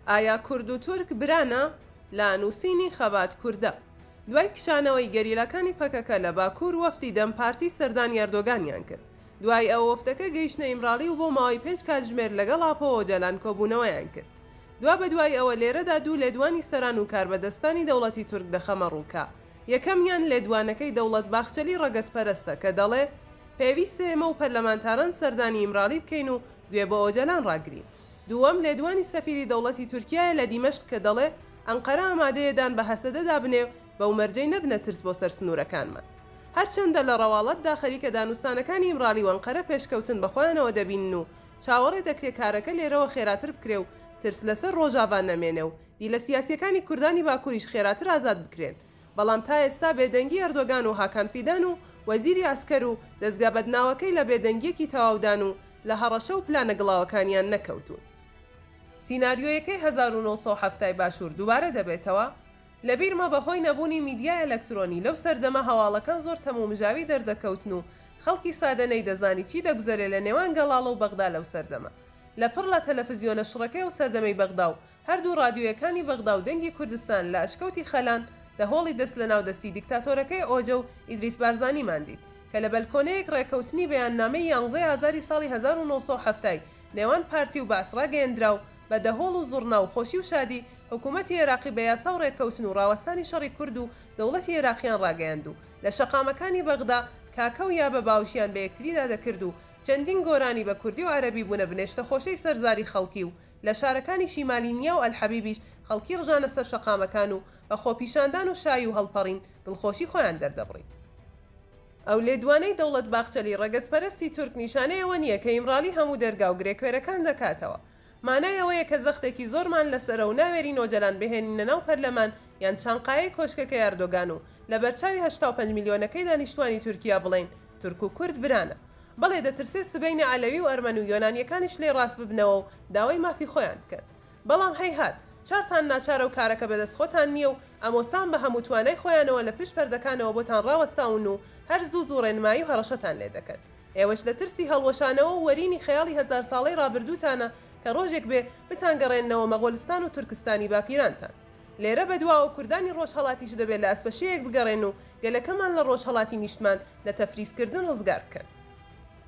ئایا کورد و تورک برانە؟ لە نووسینی خەبات کوردە. دوای کشانەوەی گەریلاکانی پەکەکە لە باکوور وەفدی دەم پارتی سەردانی ئەردۆگانیان کرد. دوای ئەوە وەفدەکە گەیشتە ئیمراڵی و بۆ ماوەی پێنج کاتژمێر لەگەڵ ئاپۆ ئۆجالان کۆبوونەوەیان کرد. دوابەدوای ئەوە لێرەدا دوو لێدوانی سەران و کاربەدەستانی دەوڵەتی تورک دەخەمە ڕوو کە یەکەمیان لێدوانەکەی دەوڵەت باخچەلی ڕەگەزپەرەستە کە دەڵێ، پێویستە ئێمە و پەرلەمانتاران سەردانی ئیمراڵی بکەین و گوێ بۆ ئۆجەلان ڕاگرین. دووەم، لێدوانی سەفیری دەوڵەتی تورکیایە لە دیمەشق کە دەڵێ، ئەنقەرە ئامادەیە دان بە هەسەدەدا بنێ و بەو مەرجەی نەبنە ترس بۆ سەر سنوورەکانمان. هەرچەندە لە ڕەواڵەتدا خەریکە دانوستانەکانی ئیمراڵی و ئەنقەرە پێشکەوتن بە خۆیانەوە دەبینن و چاوەڕێ دەکرێ کارەکە لێرەوە خێراتر بکرێ و ترس لەسەر ڕۆژاڤا نەمێنێ و دیلە سیاسییەکانی کوردانی باکووریش خێراتر ئازاد بکرێن بەڵام تا ئێستا بێدەنگی ئەردۆگان و هاکان فیدان و وەزیری عەسکەر و دەزگا بەدناوەکەی لە بێدەنگیەکی تەواودان و لە هەڕەشە و پلانە گڵاوەکانیان نەکەوتوون. سیناریۆیەکەی هەزار و نۆ سەد و حەفتا ی باشوور دووبارە دەبێتەوە؟ لەبیرمە بەهۆی نەبوونی میدیای ئەلەکترۆنی لەو سەردەمە هەواڵەکان زۆر تەمومژاوی دەردەکەوتن و خەڵکی سادە نەیدەزانی چی دەگوزەرێ لە نێوان گەڵاڵە و بەغدا لەو سەردەمە لە پڕ لە تەلەفزیۆنە شڕەکەی ئەو سەردەمەی بەغدا و هەردوو ڕادیۆیەکانی بەغدا و دەنگی کوردستان لە ئەشکەوتی خەلان دە هۆڵی دەست لە ناو دەستی دیکتاتۆرەکەی ئۆجە و ئیدریس بارزانیمان دیت کە لە بەلکۆنەیەک ڕێکەوتنی بەیاننامەی یانزەی ئازاری ساڵی هەزار و نۆ سەد و حەفتا ی نێوان پارتی و بەعس ڕاگەیەندرا و بە دە هۆڵ و زوڕنا و خۆشی و شادی حکوومەتی ئێراقی بە یاسا و ڕێکەوتن و ڕاوەستانی شەڕی کورد و دەوڵەتی ئێراقیان ڕاگەیاند و لە شەقامەکانی بەغدا کاکە و یابە باوشیان بە یەکتریدا دەکرد و چەندین گۆرانی بە کوردی و عەرەبی بوونە بنێشتە خۆشەی سەرزاری خەڵکی و لە شارەکانی شیمالی نیا و ئەلحەبیبیش خەڵکی ڕژانە سەر شەقامەکان و بە خۆپیشاندان و شایی و هەڵپەڕین دڵخۆشی خۆیان دەردەبڕی. ئەو لێدوانەی دەوڵەت باخچەلی ڕەگەزپەرستی تورک نیشانەی ئەوە نییە کە ئیمراڵی هەموو دەرگا و گرێکوێرەکان دەکاتەوە. مانای ئەوەیە کە زەختێکی زۆرمان لەسەرە و ناوێرین ئۆجەلان بهێنینە ناو پەرلەمان یان چانقایەی کۆشکەکەی ئەردۆگان و لەبەرچاوی هەشتا و پەنج ملیۆنەکەی دانیشتووانی تورکیا بڵێین تورک و کورد برانە. بەڵێ دەترسێ سبەینێ عەلەوی و ئەرمەن و یۆنانیەکانیش لێی ڕاست ببنەوە و داوای مافی خۆیان بکەن. بەڵام هەیهات چارتان ناچارە و کارەکە بەدەست خۆتان نیە و ئەمۆسان بە هەموو توانای خۆیانەوە لە پشت پەردەکانەوە بۆتان ڕاوەستاون و هەر زوو زوو ڕێنمایی و هەڕەشەتان لێ دەکەن. ئێوەش لە ترسی هەڵوەشانەوە و وەرینی خەیاڵی هەزار ساڵەی ڕابردووتانە کە ڕۆژێک بێ بتانگەڕێننەوە مەغۆلستان و تورکستانی باپیرانتان. لێرە بەدواوە کوردانی ڕۆژهەڵاتیش دەبێت لە ئەسپەشێیەک بگەڕێن و گەلەکەمان لە ڕۆژهەڵاتی نیشتمان لە تەفریزکردن ڕزگار بکەن.